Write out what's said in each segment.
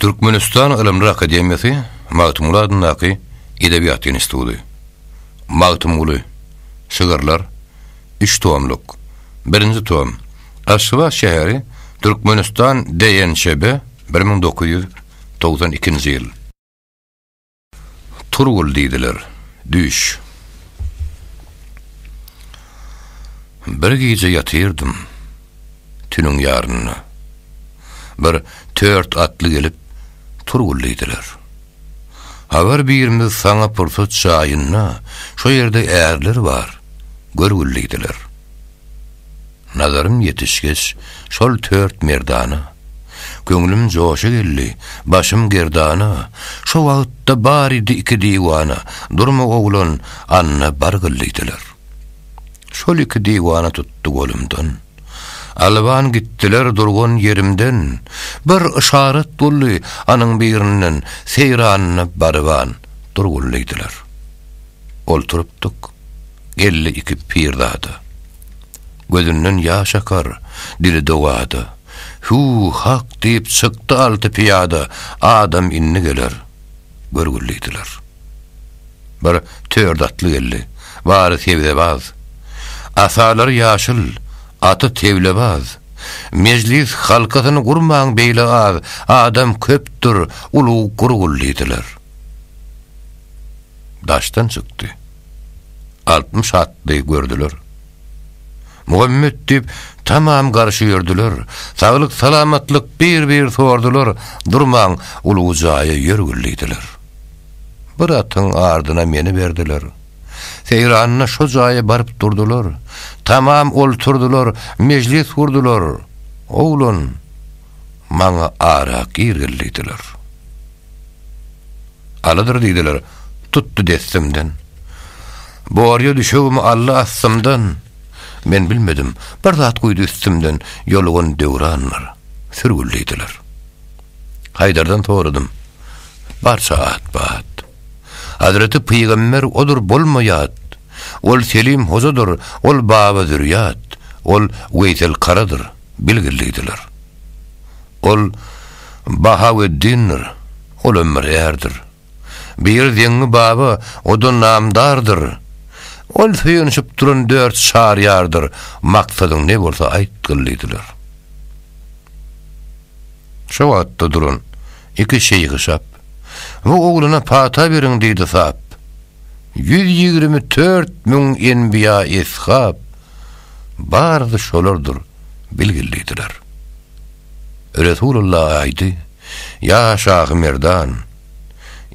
Türkmenistan Ylymlar akademiýasy Magtymguly adyndaky Edebiýat institudy. Magtymguly, Şygyrlar, üç tomluk, birinji tom, Aşgabat şäheri, Türkmenistan DNÇB, bir müň dokuz ýüz togsan ikinji ýyl. Turgul diýdiler. Düş. Bir gije ýatyrdym. Tüniň ýarynda. Bir tört atly gelip, Turgul diýdiler. Habar birimiz saňa pursat jaýynda, şo ýerde ärler bar, görgül diýdiler. Nazarym ýetişgeç, şol tört merdana, Köňlüm joşa geldi, başym gerdana, Şo wagtda baridi iki diwana, Durma oglan, anna bar gyl diýdiler. Şol iki diwana tutdy golumdan, Alban gitdiler durgan ýerimden, Bir yşarat boldy anyň birinden, Seýranyna baryban, dur gul diýdiler. Oturypdyk. Geldi iki pirzada. Gözünden ýaş akar, dili dowada. Hüw, hak diýip çykdy alty pyýada, Adam indi geler. Görgül diýdiler. Bir tört atly geldi. Bary sebzebaz. Asalary ýaşyl, aty tewlebaz. Mejlis halkasyny gurmaň beýle az, Adam köpdür, ulag gurgul diýdiler. daşdan çykdy. Altmyş atly gördüler. Muhammet diýip, tamam garşy ýördüler. Saglyk-salamatlyk bir-bir sordular, durman uly jaýa ýör gürlediler. Bir atyň ardyna meni berdiler. Seýranyna şo jaýa baryp durdular. Tamam olturdylar, mejlis gurdular. Oglan, maňa ara gir gürlediler. Alydyr diýdiler, tutdy dessimden. Borýa düşegimi aldy astymdan. Men bilmedim, bir zat guýdy üstümden, ýolugan döwranlar, sürgül diýdiler. Haýdardan soradym, barça at-bat. Hazreti pygamber odur bolma ýat, Ol Selim hojadyr, ol Baba zürýat, Ol Weýsel karadyr, bilgil diýdiler. Ol Bahaweddindir, ol hem bir ärdir. Bir Zeňňi baba, o-da namdardyr. Ol söýenişip duran dört şar ýardyr, maksadyň ne bolsa aýtgyl diýdiler. Şo wagtda duran iki şeýhi şap, Bu oglana pata beriň diýdi sap. Ýüz ýigrimi tört müň enbiýa-eshap, Baryzy şolardyr, bilgil diýdiler. Resulalla aýdy, Ýa Şahy Merdan!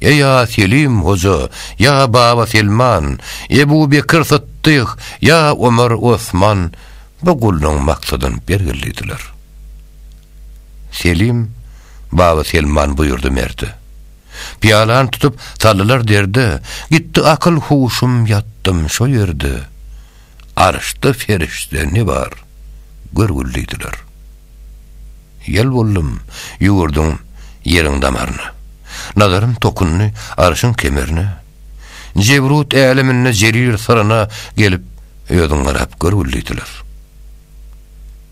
Eý ýa Selim hoja, ýa Baba Selman, Ebu Bekir Sytdyk, ýa Omar Osman bu gullugyň maksadyny bergil diýdiler. Selim, Baba Selman buýurdy merde. Pyýalany tutup saldylar derde, Gitdi akyl-huşum ýatdym şo ýerde. Arşda perişde ne bar, görgül diýdiler. Ýel boldum, ýüwürdüm ýeriň damaryna. Nazarym tokundy arşyň kemerine. Jebrut äleminde jerir syryna gelip, özüň garap görgül diýdiler.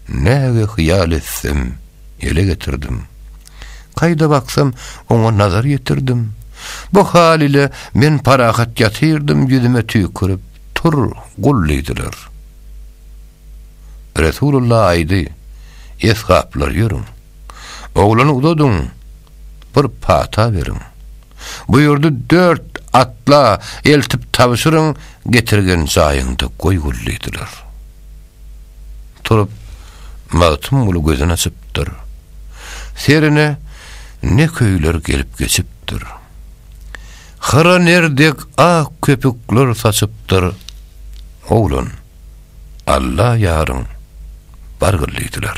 Näge hyýal etsem, ele getirdim. Kaýda baksam, oňa nazar ýetirdim. Bu hal ile men parahat ýatyrdym ýüzüme tüýkürip. Tur, gul diýdiler. Resulullah aýdy, Esgaplar ýörüň. Oglany uzadyň, bir pata beriň. Buýurdy, Dört atla eltip tabşyryň, getirgen jaýyňda goý gul diýdiler. Turup, Magtymguly gözün açypdyr. Serine ne köýler gelip geçipdir. Hyra ner dek ak köpükler saçypdyr. Oglan, Alla ýaryň, bargyl diýdiler.